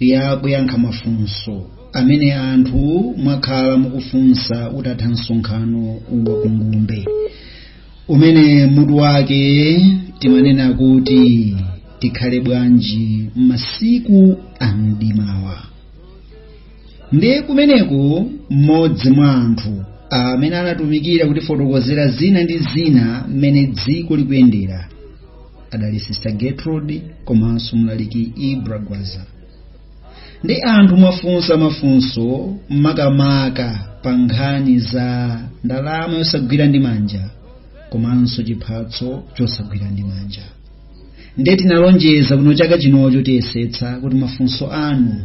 ya kuyankha mafunso amene anthu mwakhala mukufunsa utatha msonkhano wa kungumbe umene mutu wake timanena kuti tikhale bwanji masiku a mdimawa ndiye kumeneko mmodzi mwa anthu amene anatumikira kutifotokozera zina ndi zina mmene dziko likuyendera adali sister gertrude komanso mlaliki ibra gwaza ndi anthu mwafunsa mafunso makamaka pa nkhani za ndalama yosagwira ndi manja komanso chiphatso chosagwira ndi manja nde tinalonjeza kuno chaka chinocho tiyesetsa kuti mafunso anu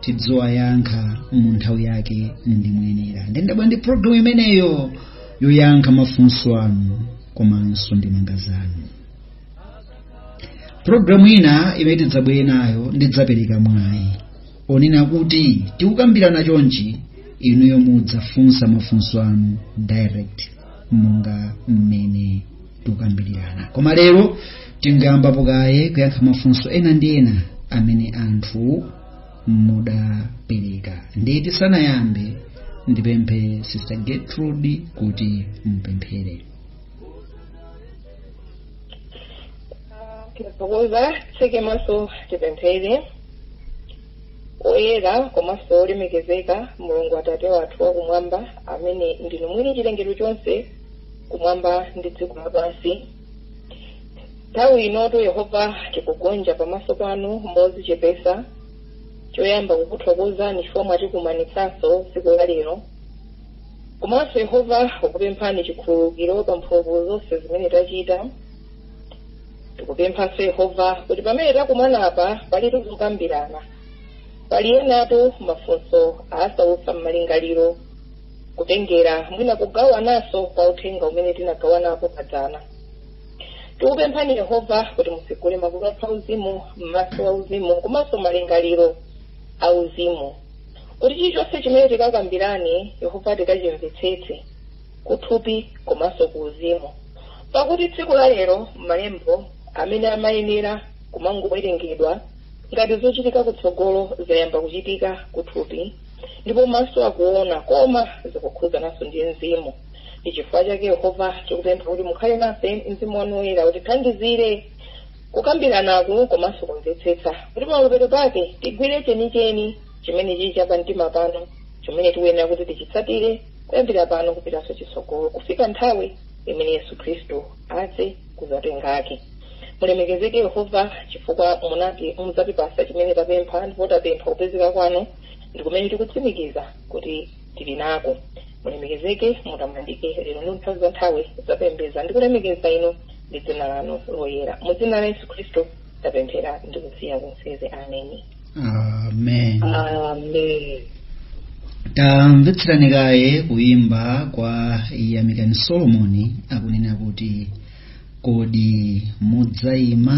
tidziwayankha mu nthawi yake ndi moyenera nde ndabwera ndi programu imeneyo yoyankha mafunso anu komanso ndemanga zanu programu ina imene tidzabwere nayo ndidzapereka mwayi onena kuti tikukambirana chonchi inuyo mudzafunsa mafunso anu direct monga mmene tikukambirana koma lero tingayambapo kaye kuyankha mafunso ena ndi ena amene anthu mudapereka ndiye tisanayambe ndipemphe sister gertrude kuti mupemphere tithokoze titseke maso tipemphere oyera komanso olemekezeka mulungu atate wathu wakumwamba amene ndinu mwini chilengedwe chonse kumwamba ndi dziko lapansi nthawi inotu yehova tikugonja pamaso panu mozichepesa choyamba kukuthokozani chifukwa mwatikumanitsanso tsiku la lero komanso yehova tikupemphani chikhululukiro pa mphulupulu zonse zimene tachita tikupemphanso yehova kuti pamene takumana apa pali tikukambirana pali enatu mafunso asautsa m'malingaliro kutengera mwina kugawananso pa uthenga umene tinagawanapo padzana tikupemphani yehova kuti mutsegule makutu athu auzimu maso auzimu komanso malingaliro auzimu kuti chilichonse chimene tikakambirane yehova tikachimvetsetse kuthupi komanso ku uzimu pakuti tsiku la lero malembo amene amayenera kumangowerengedwa ngati zochitika kutsogolo zayamba kuchitika kuthupi ndipo maso akuona koma zikukhudzananso ndi mzimu ndi chifukwa chake yehova tikupempha kuti mukhale nafe mzimu wanu woyera utithandizire kukambiranaku komanso kumvetsetsa kuti pamapeto pake tigwire chenicheni chimene chili cha pamtima panu chimene tikuyenera kuti tichitsatire kuyambira pano kupitanso chitsogolo kufika nthawi imene yesu khristu adze kudzatenga ake mulemekezeke yehova chifukwa munati mudzatipasa chimene tapempha ndipo tapempha kupezeka kwanu ndi kumene tikutsimikiza kuti tili nako mulemekezeke mutamandike lero ndi nthawi za nthawi tapembedza ndi kulemekeza inu ndi dzina lanu loyera mu dzina la yesu khristu tapemphera ndi kusiya kunseze ameni amen amen tamvetserani kaye kuyimba kwa yamikani solomoni akunena kuti kodi mudzayima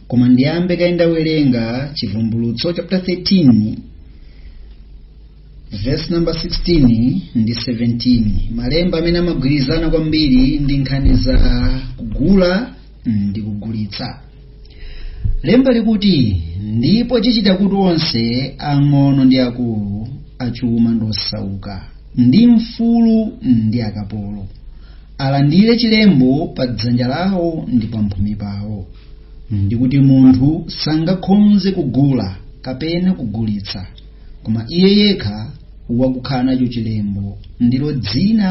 koma ndiyambe kaye ndawerenga chivumbulutso chapter 13 verse number 16 ndi 17 malemba amene amagwirizana kwambiri ndi nkhani za kugula ndi kugulitsa lemba likuti ndipo chichita kuti onse ang'ono ndi akulu achuma ndi osauka ndi mfulu ndi akapolo alandire chilembo pa dzanja lawo ndi pamphumi pawo ndi kuti munthu sangakhonze kugula kapena kugulitsa koma iye yekha wakukhala nacho chilembo ndilo dzina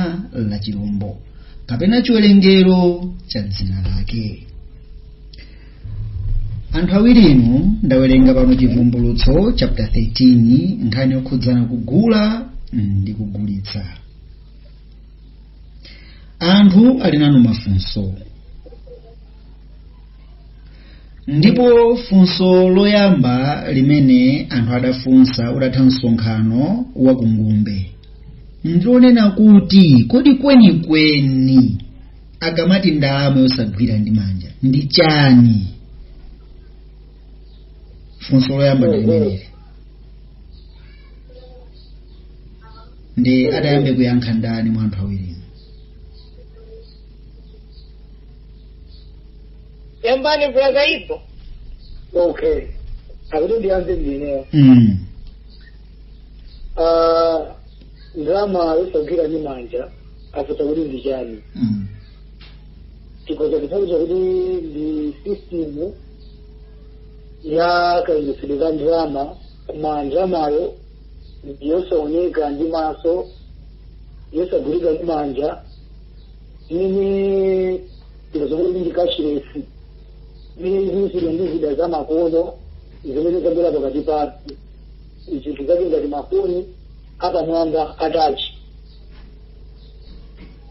la chilombo kapena chiwerengero cha dzina lake anthu awirinu ndawerenga pano chivumbulutso chapter 13 nkhani yokhudzana kugula ndi kugulitsa anthu ali nanu mafunso ndipo funso loyamba limene anthu adafunsa utatha msonkhano wa kungumbe ndilonena kuti kodi kwenikweni akamati ndalama yosagwira ndi manja ndi chani funso loyamba ndi limeneli ndi atayambe kuyankha ndani mwa anthu awirinu yambani mvula zaipo okay akuti ndiyambe ndineyo mm. Ah, ndalama yosagwira ndi manja akuti ndi chani Mm. chikoza kuthandiza kuti ndi system ya kayendetsedwe ka ndalama koma ndalamayo yosaoneka ndi maso yosagwirika ndi manja zimene zomwe ndi cashless zimene zikuchitidwa ndi zida za makono zimene zabwera pakati pathu zinthu zake ngati mafoni apamwamba a touch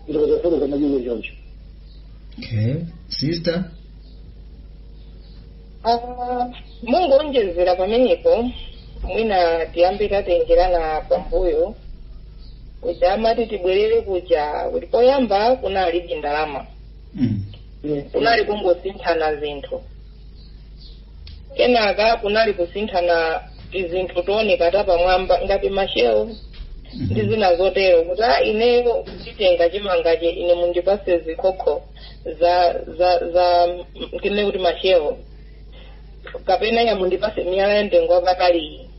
ndipo zafotoka madyulo choncho okay sister Ah, mungowonjezera pamenepo mwina tiyambe tatengerana pambuyo kuja amati tibwerere kuja kuti poyamba kunalibe ndalama Mm. kunali kungosinthana zinthu kenaka kunali kusinthana tizinthu tooneka tapamwamba ngati ma shell ndi zina zotero kuti a ineyo nditenga chimangache ine mundipase zikhokho za za za kinene kuti ma shell kapena ya mundipase miyala ya mtengo wapataliyi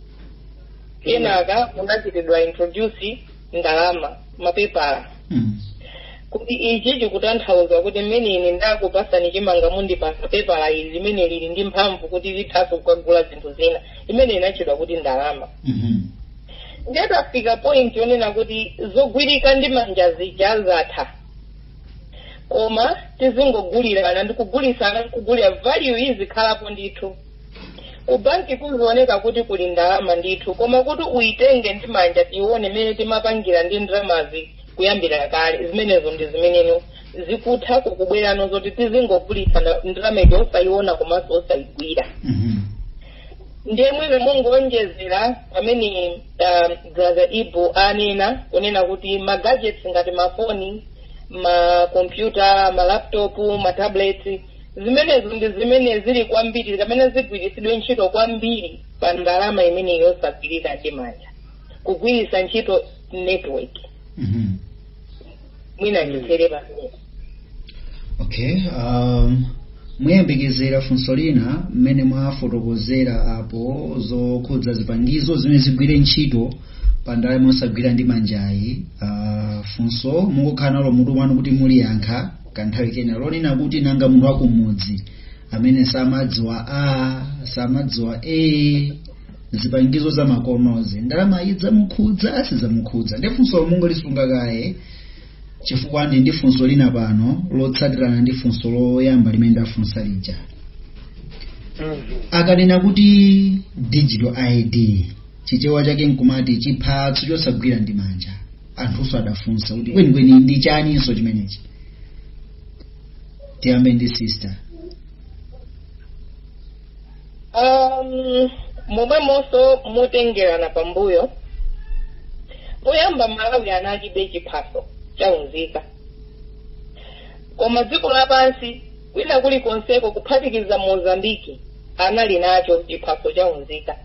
kenaka kunachitidwa introduce ndalama mapepala Mm. kuti ichi chikutanthauza kuti mmene ine ndakupasani chimanga mundipasa pepala ili limene lili ndi mphamvu kuti lithaso kukagula zinthu zina imene inatchedwa kuti ndalama Mhm. ndiye tafika point yonena kuti zogwirika ndi manja zija zatha koma tizingogulirana ndikugulitsana kugulira value izikhalapo ndithu ku banki kuzioneka kuti kuli ndalama ndithu koma kuti uyitenge ndi manja tione mmene timapangira ndi ndalamazi kuyambira kale zimenezo ndi zimene no zikutha kukubwera no zoti tizingogulitsana ndalama ija osayiona komanso osayigwira Mhm. ndiye mwina mungoonjezera pamene uh, brother ibu anena kunena kuti magadgets ngati mafoni makompyuta malaptopu matablets zimenezo ndi zimene zili kwambiri kapena zigwiritsidwe ntchito kwambiri pa ndalama imene yosagwirika ndi manja kugwiritsa ntchito network Mhm. mwina ndithere pamene okay um, muyembekezera funso lina mmene mwafotokozera apo zokhudza zipangizo zimene zigwire ntchito pa ndalama yosagwira ndi manjayi uh, funso mungokhala nalo mutu mwanu kuti muliyankha kanthawi kena lonena kuti nanga munthu wakumudzi amene samadziwa a samadziwa a zipangizo za makonozi ndalama idzamukhudza sizamukhudza ndi funso mungolisunga kaye chifukwa ndi ndi funso lina pano lotsatirana ndi funso loyamba limene ndafunsa lija akanena kuti digital id chichewa chake nkumati chiphatso chosagwira ndi manja anthunso adafunsa kuti kwenikweni ndi chaninso chimenechi tiyambe ndi sister um, momwemonso motengerana pambuyo poyamba malawi analibe chiphaso cha unzika koma dziko lapansi kwina kulikonseko kuphatikiza mozambiki anali nacho chiphaso cha unzika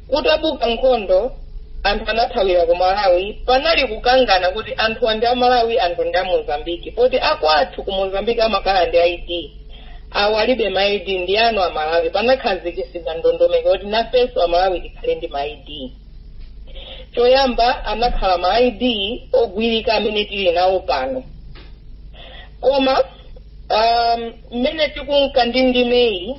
Kutabuka nkhondo, anthu anathawira ku Malawi. Panali kukangana kuti anthuwa ndi a Malawi, anthuwa ndi a Mozambiki. Poti akwathu ku Mozambiki amakhala ndi ID. Awo alibe ma ID ndi anu a Malawi. Panakhazikitsidwa ndondomeko kuti nafenso a Malawi tikhale ndi ma ID. Choyamba anakhala ma ID ogwirika amene tili nawo pano. Koma Um, mmene tikunka ndi ndimeyi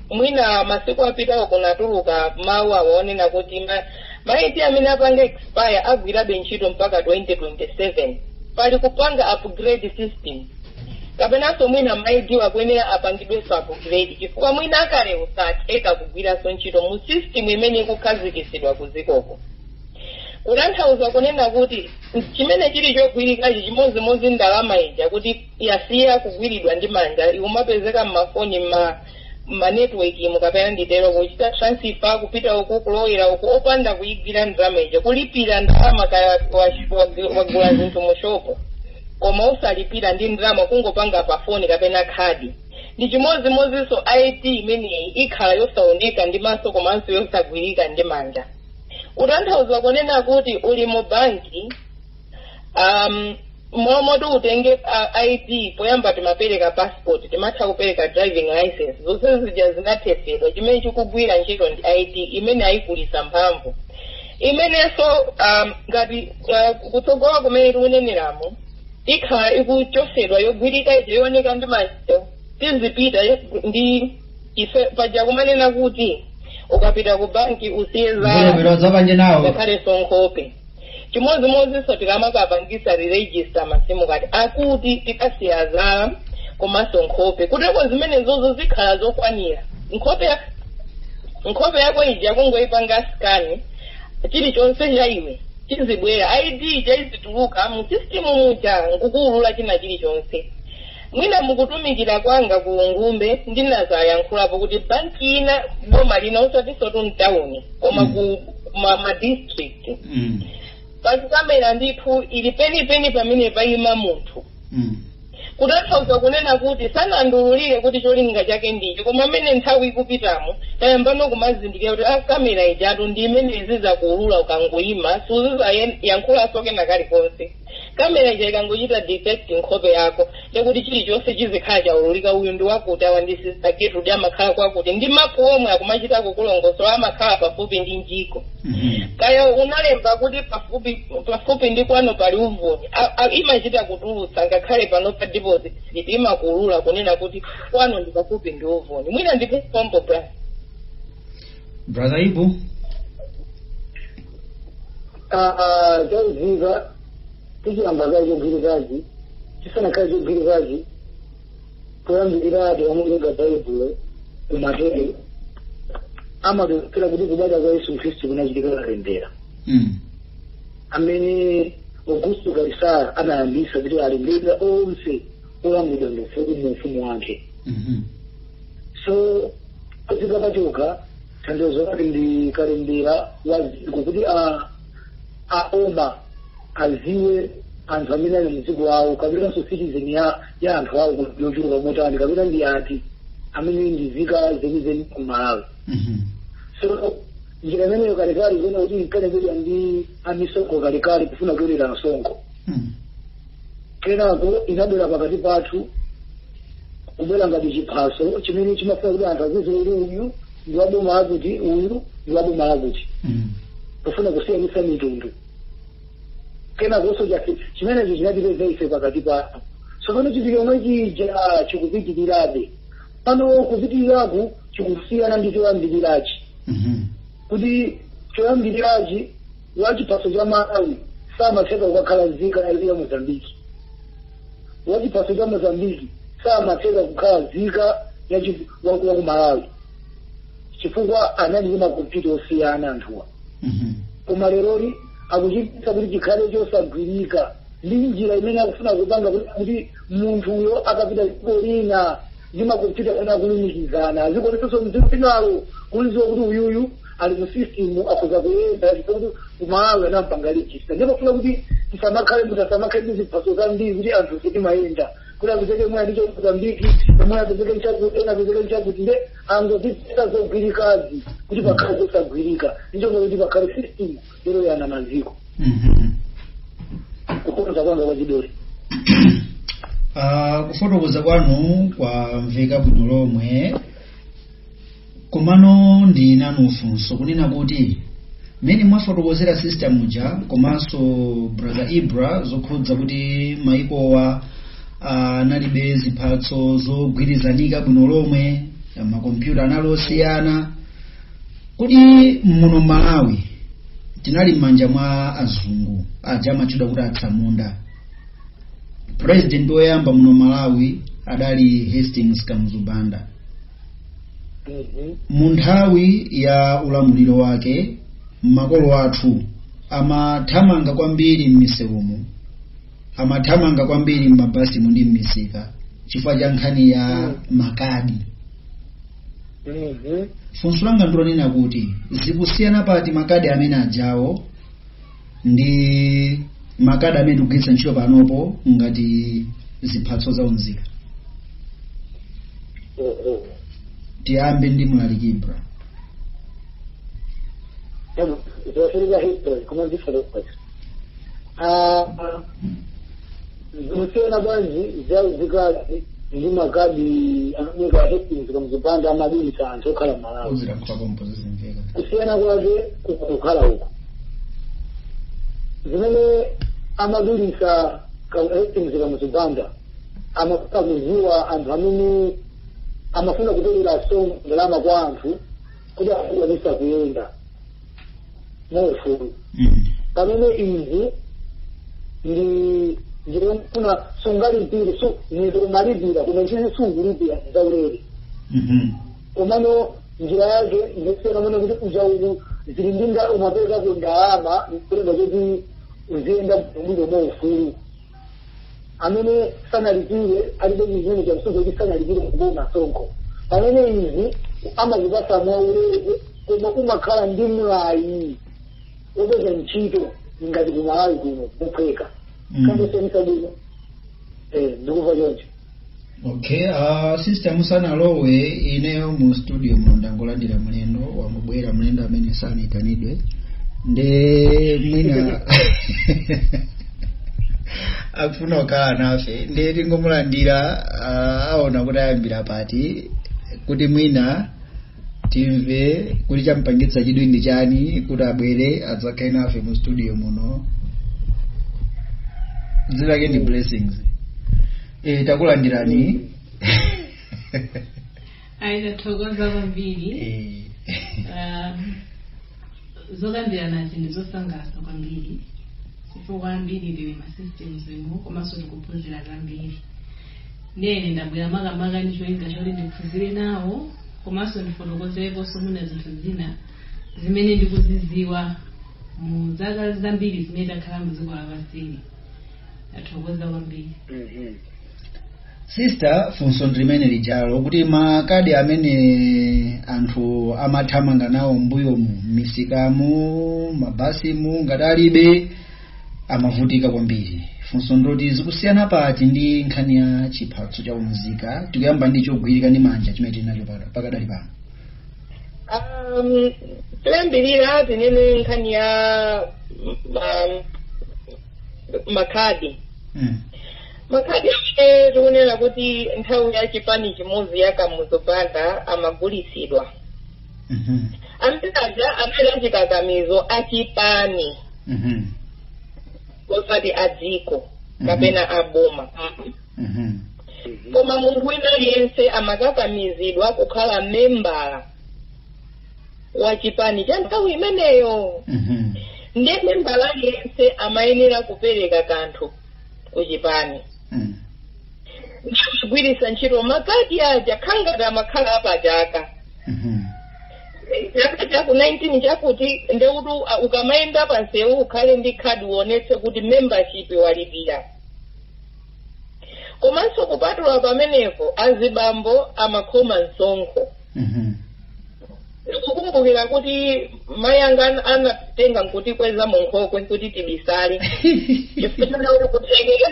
mwina masiku apitawo kunatuluka mawu awo onena kuti ma- maidi amene apanga expire agwirabe ntchito mpaka 2027 pali kupanga upgrade system kapenanso mwina maidiwa akuyenera apangidwenso upgrade chifukwa mwina akalewo osatheka kugwiranso ntchito mu system imene ikukhazikitsidwa kuzikoko kutanthauza kunena kuti chimene chili chogwirikachi chimodzimodzi ndalama ija kuti yasiya kugwiridwa ndi manja ikumapezeka mmafoni mma manetiweki mukapena nditero kuchita transfer kupita uku kulowera uku opanda kuyigwira ndalama ija kulipira ndalama kaya wa- wa- wagula zinthu mu shopo koma osalipira ndi ndalama kungopanga pa foni kapena khadi ndi chimodzimodzinso id imeneyi ikhala yosaoneka ndi maso komanso yosagwirika ndi manja kutanthauza kunena kuti uli mu banki um, momoti utenge uh, id poyamba timapereka passport timatha kupereka driving license zonse zija zinathetsedwa chimene chikugwira ntchito ndi id imene ayikulisa mphamvu imenenso um, ngati uh, kutsogola kumene tikuneneramo ikhala ikuchotsedwa yogwirika ija yooneka ndi maso tizipita ndi ife paja kumanena kuti ukapita ku banki usiye zala ngakhalenso nkhope chimodzimodzinso tikamakapangisa rejista masimu kadi akuti tikasiya zala komanso nkhope kuteko zimenezozo zikhala zokwanira nkhope ya- nkhope yako ija kungoyipanga sikani chilichonse cha iwe chizibwera id ija izituluka mu sistimu muja nkukuulula china chilichonse Mwina mukutumikira kwanga ku Ngumbe ndinazayankhulapo kuti banki ina boma lina osatinso tu mtawuni koma Mm. ku ma, ma district Mm. pali kamera ndithu ili penipeni pamene payima munthu Mm. kutanthauza kunena kuti sanandiululire kuti cholinga chake nchiyani koma mmene nthawi ikupitamo tayambano kumazindikira kuti a kamera ijatu ndi imene izizakuulula ukangoyima suzizayankhulanso kena kalikonse kamera ija ikangochita detect nkhope yako ndekuti chilichonse chizikhala chaululika uyu ndi wakuti awa ndi sister Gertrude amakhala kwakuti ndi mapu omwe akumachita kukulongosola amakhala pafupi ndi njiko kaya unalemba kuti pafupi pafupi ndi kwanu pali uvuni A- a- imachita kutulutsa ngakhale pano pa deposit slip imakuulula kunena kuti kwano ndi pafupi ndi uvuni mwina ndikupombo bra brother ibu chakuziva tichiyamba kaye chogwirikachi chisanakhale chogwirikachi kuyambirira ati wamulenga baibulo kumatero amatokera kuti kubadwa kwa yesu khristu kunachitika kalembera mm. amene augusto kaisara anayambisa kuti alembera onse olamulidwa ndi ufumu wake mm -hmm. so padziko pachoka tanthauzo lake ndi kalembera wa dziko kuti a- aboma aziwe anthu amene ali mdziko awo kapenanso citizen ya ya anthu awo kuti yochuluka motani kapena ndi ati amene ndi zika zenizeni ku malawi Mhm. so njira imeneyo kalekale kuona kuti inkalembedwa ndi amisonkho kalekale kufuna kutolera msonkho Mhm. kenako inabwera pakati pathu kubwera ngati chiphaso chimene chimafuna kuti anthu aziwe kuti uyu ndi wa boma lakuti uyu ndi wa boma lakuti Mm. kufuna kusiyanitsa mitundu kenakonso chake chimenecho chinatipeza ife pakati pathu tsopano chinthu chomwe chija chikupitirirabe pano kupitiriraku chikusiyana ndi choyambirirachi Mhm. kuti choyambirirachi wachiphaso cha malawi samatheka kukakhala nzika ya ya mozambiki wachiphaso cha mozambiki samatheka kukhala nzika ya chi- wa- wa ku malawi chifukwa anali ndi makompyuta osiyana anthuwa Mhm. koma leroli akuchititsa kuti chikhale chosagwirika ndi njira imene akufuna kupanga kuti- kuti munthuyo akapita dziko lina ndi makompyuta amene akulumikizana azikuonetsanso mdziko linalo kuziwa kuti uyuyu ali mu system akhoza kuyenda chifukwa ku malawi anampanga register ndipo kufuna kuti tisamakhale munthu asamakhale ndi ziphaso zambiri kuti anthu ife timayenda kuti apezeke mwe ali cha Mozambiki mwe apezeke mchakuti ena apezeke mchakuti nde angozipeza zogwirikazi kuti pakhale zosagwirika ndichonga kuti pakhale system yoyana maziko Mhm. kukonza kwanga kwa chidole Ah, kufotokoza kwanu kwamveka bwino lomwe komano ndi nanu funso kunena kuti mmene mwafotokozera sister muja komanso brother ibra zokhudza kuti maikowa analibe ziphaso zogwirizanika bwino lomwe makompyuta anali osiyana kodi muno malawi tinali m'manja mwa azungu aja amatchedwa kuti atsamunda president woyamba muno malawi adali hastings kamuzu banda Mhm. mu nthawi ya ulamuliro wake makolo athu amathamanga kwambiri m'misewumu amathamanga kwambiri m'mabasimu ndi m'misika chifukwa cha nkhani ya makadi Mhm. funso langa ndilonena kuti zikusiyana pati makadi amene ajawo ndi makadi amene tikugwiritsa ntchito panopo ngati ziphaso za unzika Mhm. tiyambe ndi mlaliki ibra Em, zofunika history koma ndifotokoza Ah, zikusiyana bwanji za unzikazi ndi makadi amene a hastings kamuzu banda amadulisa anthu okhala malawi kuzira kutakompo zizimveka kusiyana kwake kukukhala uku zimene amadulisa a hastings kamuzu banda amafuna kuziwa anthu amene amafuna kutolela nso ndalama kwa anthu kuti akwanisa kuyenda mwaufulu Mm. pamene izi ndi ndikufuna sungalipire su zinthu umalipira koma izizi sungalipira zaulere Mhm. komano njira yake ndisiyana monena kuti uchaulu zili ndi ndalama umapezako ndalama kulenga kuti uziyenda bwino mwaufulu amene sanalipire alibe chizindikiro cha msonkho kuti sanalipire kuboma msonkho pamene izi amazipasa mwaulere koma umakhala ndi mwayi wopeza ntchito ngati kumalawi kuno mophweka Mm. kandisonisa bwino ndikuva choncho okay uh, sister musanalowe ineyo mu studio muno ndangolandira mlendo wangobwera mlendo amene sanaitanidwe nde mwina akufuna kukhala nafe nde tingomulandira uh, aona kuti ayambira pati kuti mwina timve kuti champangitsa chidwi ndi chani kuti abwere adzakhale nafe mu studio muno dzina lake ndi blessings e, takulandirani ayi tathokoza kwambiri e, Ah, zokambiranazi ndi zosangalatsa kwambiri chifukwa ambiri tili m'ma system zimo komanso tikuphunzira zambiri Ndiye ine ndabwera makamaka ndi cholinga choti ndiphunzire nawo komanso ndifotokozereponso mwina zinthu zina zimene ndikuzidziwa mu zaka zambiri zimene takhala mu dziko lapansili ndathokoza kwambiri sister funso ndi limene lijalo kuti makadi amene anthu amathamanga nawo mbuyomu m'misikamu m'mabasimu ngati alibe amavutika kwambiri funso ndoti zikusiyana pati ndi nkhani ya chiphatso cha umzika tikuyamba ndi chogwirika ndi manja chimene tili nacho paka- pakadali pano Um, tiyambirire tinene nkhani ya um, makhadi mm. makhadi amene tikunena kuti nthawi ya chipani chimodzi ya kamuzu banda amagulitsidwa Mhm. amene aja anali achikakamizo achipani Mhm. osati a dziko Mhm. kapena a boma Mhm. koma munthu wina aliyense amakakamizidwa kukhala membala wa chipani cha nthawi imeneyo Mhm. ndiye membala aliyense amayenera kupereka kanthu ku chipani Mhm. ndikugwiritsa ntchito makadi aja khangati amakhala apachaka Mhm. chaka chaku 19 chakuti ndekuti uh, ukamayenda pansewu ukhale ndi khadi uonetse kuti membership walipira komanso kupatula pamenepo azibambo amakhoma msonkho Mhm. ndikukumbukira kuti mayi anga anatenga nkutikweza mu nkhokwe kuti tibisale chifukwa kuti kuthekeka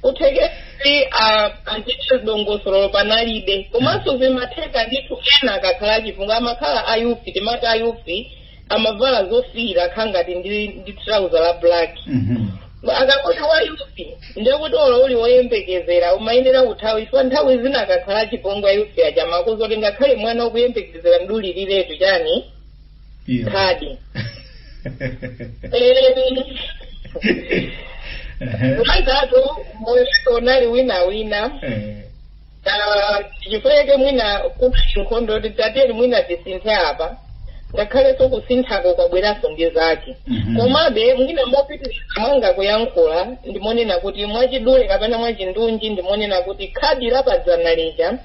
kuthekera kuti ah, antchito dongosolo panalibe komanso zimatheka ndithu ena akakhala achipongwe amakhala ayufi timati ayufi amavala zofiira khangati ndi, ndi trouser la black Mhm. akakuti wayufi ndekuti olo uli woyembekezera umayenera kuthawa chifukwa nthawi zina akakhala achipongwe ayufi aja amakuuza kuti ngakhale mwana ukuyembekezera mdulireretu chani Iyo. khadi Ehe. mazatu moyo unali wina wina Eh, Ah, chifukwa chake mwina kupsa nkhondo titatere mwina tisinthe apa ngakhalenso kusinthako kwabweranso ndi zake Mhm. komabe mwina mopitiriza mwanga kuyankhula ndimonena kuti mwachidule kapena mwachindunji ndimonena kuti khadi la padzana lija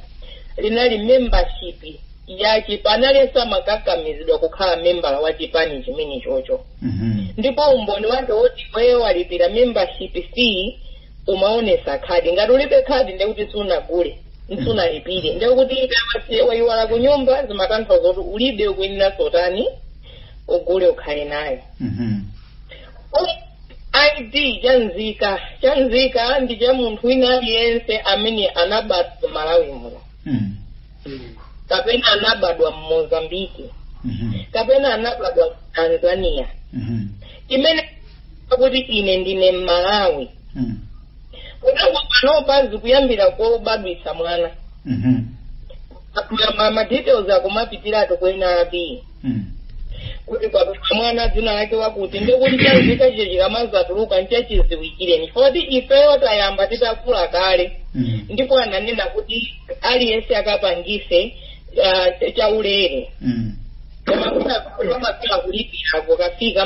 linali membership ya chipani aliyense amakakamizidwa kukhala membala wa chipani chimene chocho Mhm. ndipo umboni wake woti iweyo walipira membership fee umaonesa khadi ngati ulibe khadi ndekuti sunagule sunalipire ndekuti ukaisiya waiwala ku nyumba zimatanthauza kuti ulibe ukuyeneraso utani ugule ukhale nayo Mhm. id cha nzika cha nzika ndi cha munthu wina aliyense amene anabadwa malawi muno Mm. kapena anabadwa mmozambiki kapena anabadwa ku tanzania amene akuti ine ndine mmalawi kotangoti panopa zikuyambira kobadwitsa mwana Ma- ma ma details akumapitiratu kwa NRB Mm. kuti mwana dzina lake wakuti ndikuti chanzika chakecho chikamazatuluka nchachidziwikireni poti ifeyo tayamba titakula kale Mm. ndipo ananena kuti aliyense akapangise ah, chaulere Mm. koma kulipira kukafika